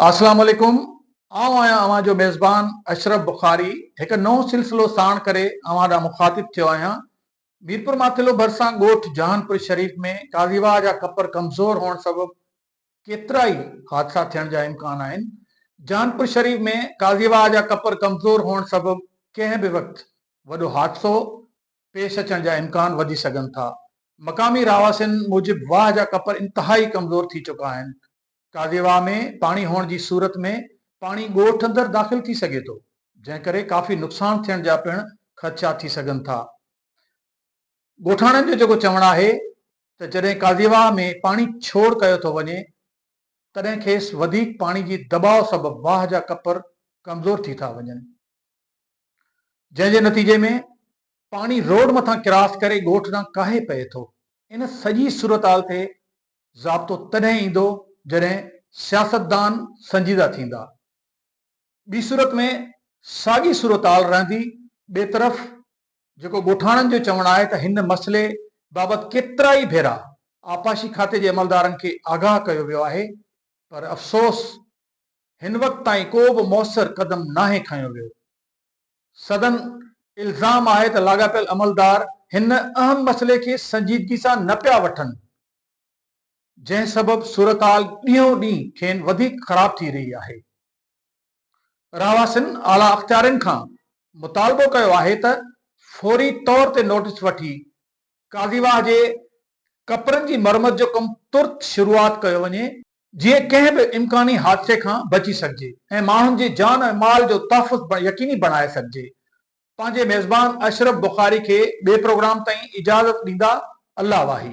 اسلام عليڪم آئون آهيان اوهان جو ميزبان اشرف بخاري هڪ نئون سلسلو ساڻ ڪري اوهان ڏانهن مخاطب ٿيو آهيان ميرپور ماٿيلو ڀرسان ڳوٺ جهانپور شريف ۾ قاضي واهه جا کپر ڪمزور هئڻ سبب ڪيترائي حادثا ٿيڻ جا امڪان آهن جهانپور شريف ۾ قاضي واهه جا کپر ڪمزور هئڻ سبب ڪنهن به وقت وڏو حادثو پيش اچڻ جا امڪان وڌي سگهن ٿا. مقامي رهواسين موجب واهه جا ڪپر انتهائي ڪمزور ٿي چڪا آهن. ڪاوي واهه ۾ پاڻي هئڻ جي صورت ۾ پاڻي ڳوٺ اندر داخل ٿي سگهي ٿو، جنهن ڪري ڪافي نقصان ٿيڻ جا پڻ خدشا ٿي سگهن ٿا. ڳوٺاڻن جو جيڪو چوڻ آهي ته جڏهن ڪاوي واهه ۾ پاڻي ڇوڙ ڪيو ٿو وڃي تڏهن کيس وڌيڪ پاڻي جي دٻاء سبب واهه جا ڪپر ڪمزور ٿي ٿا وڃن. جنهن جي نتيجي ۾ پاڻي روڊ مٿان ڪراس ڪري ڳوٺ ڏانهن ڪاهي پئي ٿو. ان سڄي صورتحال تي ضابطو تڏهن ايندو جڏهن سياستدان سنجيده ٿيندا. ٻي صورت ۾ ساڳي صورتحال رهندي. ٻئي طرف جيڪو ڳوٺاڻن جو چوڻ آهي ته هن مسئلي بابت ڪيترائي ڀيرا آبپاشي کاتي جي عملدارن کي آگاهه ڪيو ويو آهي پر افسوس هن وقت تائين ڪو به موثر قدم ناهي کنيو ويو. سندن الزام آهي ته لاڳاپيل عملدار هن اهم مسئلي کي سنجيدگي سان نه پيا وٺن، جنهن سبب صورتحال ڏينهون ڏينهن کين وڌيڪ خراب ٿي رهي آهي. رهواسين اعليٰ اختيارين کان مطالبو ڪيو آهي ته فوري طور تي نوٽيس وٺي قاضي واهه جي ڪپرن جي مرمت جو ڪم ترت شروعات ڪيو وڃي جيئن ڪنهن به امڪاني حادثي کان بچي سگهجي ۽ ماڻهن جي جان ۽ مال جو تحفظ يقيني بڻائي سگهجي پنهنجي ميزبان اشرف بخاري کي ٻي پروگرام تائين اجازت ڏيندا الله واهي.